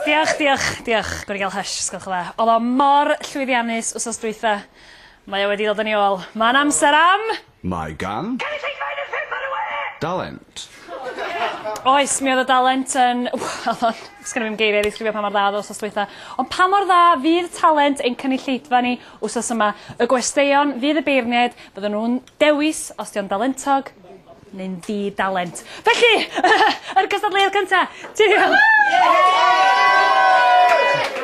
Diolch, diolch, diolch. Gwni gael hysh, sgwch dda. Oedd o mor llwyddiannus wsos dwytha. Mae o wedi dod yn ei ôl. Mae'n amser am... Mae gan... Cynulleidfa un o'r pump ar y we! Dalent. Oes, mi oedd y dalent yn... Oedd o'n... Sgynna fi'm geiriau i ddisgrifio pa mor dda oedd o wsos dwytha. Ond pa mor dda fydd talent ein cynulleidfa ni wsos yma? Y gwesteion fydd y beirniaid, bydden nhw'n dewis os dio'n dalentog, neu'n ddi-dalent. Felly, yr cystadleuaeth cynta! Cheerio!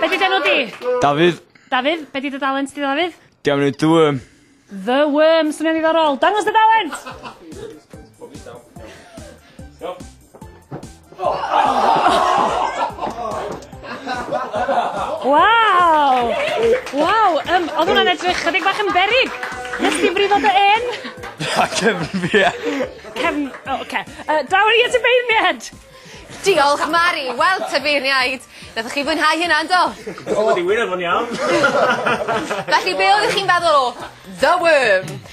Be di dy enw di? Dafydd. Dafydd, be di dy dalent di Dafydd? Dwi am neud The Worm. The Worm, swnio'n ddiddorol. Dangos dy dalent! Waw! Waw, um, oedd hwnna'n edrych chydig bach yn berig. Nes ti brifo dy en? Na, cefn fi. Cefn, o, oh, oce. Uh, Dawr i at y beirniad! Diolch, Mari. Wel, te beirniaid. Ydych chi fwynhau hynna, yndo? Oedd wedi wir efo'n iawn. Felly, be oeddech chi'n feddwl o The Worm?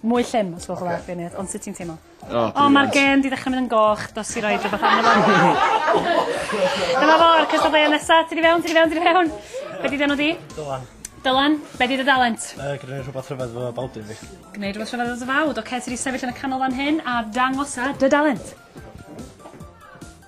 Mwy llym os gwelwch yn dda. Ocê. Beirniad. Ond sut ti'n teimlo? O brilliant. O ma'r gên 'di ddechra myn' yn goch dos i roid rwbath arno fo. Dyma fo a'r cystadleuaeth nesa. Ti 'di fewn ti 'di fewn ti 'di fewn. Be' 'di dy enw di? Dylan. Dylan. Be' 'di dy dalent? Yy gneud rhwbath rhyfedd efo fy bawd fi. Gneud rwbath rhyfedd efo dy fawd. Oce ti 'di sefyll yn y canol fan hyn a dangosa dy dalent.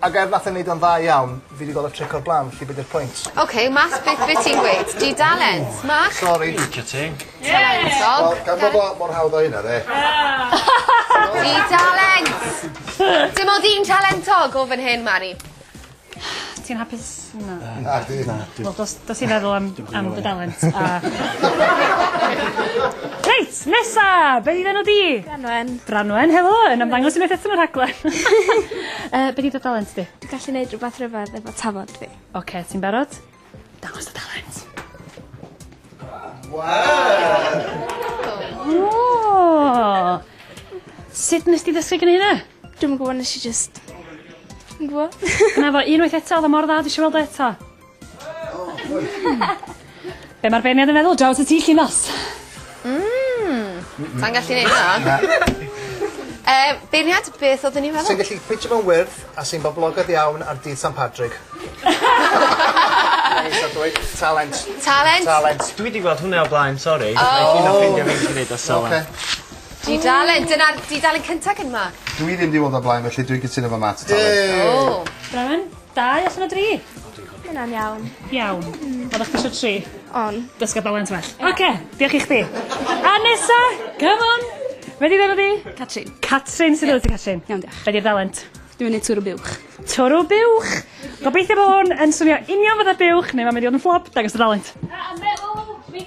Ag er nath e neud o'n dda iawn fi 'di gweld y tric o'r bla'n felly be' 'di'r pwynt? Ok Matt beth be' ti'n gweud? Dudalent. Matt? Sori. Licio ti. Talentog. Wel gan bo fo mor hawdd â hynna 'de? Dudalent! Dim ond un talentog o fan hyn Mari. Ti'n hapus? Na. Na. Na. Wel dos dos i feddwl am am dy dalent a... Reit nesa! Be' 'di'n enw di? Branwen. Branwen helo yn ymddangos unwaith eto yn y rhaglen. Yy be' 'di dy dalent di? Dwi gallu neud rwbath rhyfedd efo tafod fi. Oce ti'n barod? Dangos dy dalent. Waw! O! Sud nes di ddysgu gneud e? Dwi'm yn gwybod, nes i just... Yn gwybod? Gwna fo unwaith eto, oedd o mor dda, dwi eisiau weld o eto. Be mae'r beirniad yn meddwl, draws y ti llinos? Mmm, sa'n gallu neud na. Uh, beirniad, beth oedden ni'n meddwl? Sy'n gallu ffitio mewn wyrth a sy'n boblogaidd iawn ar dydd San Patrick. Talent. Talent. Talent. Dwi wedi gweld hwnna o blaen, sori. Oh. Nai ffindio fi'n gallu neud o so. Oce. Dudalen. Dyna'r dudalen cynta gen ma. Dw i ddim 'di bod o'r blaen felly dwi'n cytuno efo Matt a Talent. Yay! O! Brenin. Dau allan o dri. Ma' wnna'n iawn. Iawn. Hmm. Oddach chdi isio tri. O'n. Dysga Dalent well. Oce, diolch i chdi. A nesa, come on! Be' 'di enw di? Catrin. Catrin sydd efo ti Catrin? Iawn diolch. Be' 'di'r dalent? Dwi myn' i twrw buwch. Twrw buwch! Gobeithio bo' hwn yn swnio union fatha buwch neu ma' mynd i fod yn fflop, dangos dy dalent. Na, a meddwl, fi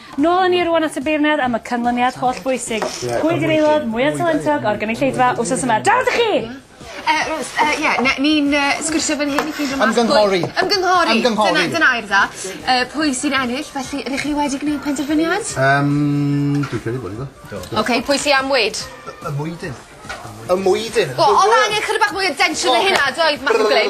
Nôl â ni rŵan at y beirniad am y canlyniad holl bwysig. Pwy ydi'r aelod mwya talentog o'r gynulleidfa wsos yma? Draw ato chi! Yy Rhys yy ie ne- ni'n yy sgwrsio fan hyn i ffindio mas pwy... Ymgynghori. Ymgynghori. Ymgynghori. Dyna dyna air dda. Yy pwy sy'n ennill felly rŷch chi wedi gneud penderfyniad? Yym dwi'n credu bo' ni do. Do. Oce pwy sy am weud? Y y mwydyn. Y mwydyn. Wel odd angen chydig bach mwy o densiwn na hynna doedd Mathew Glyn?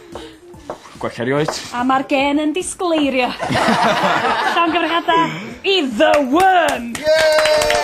Gwell car i oed. A ma'r gên yn disgleirio. Llongyfarchiada i The Wyrm. Yay!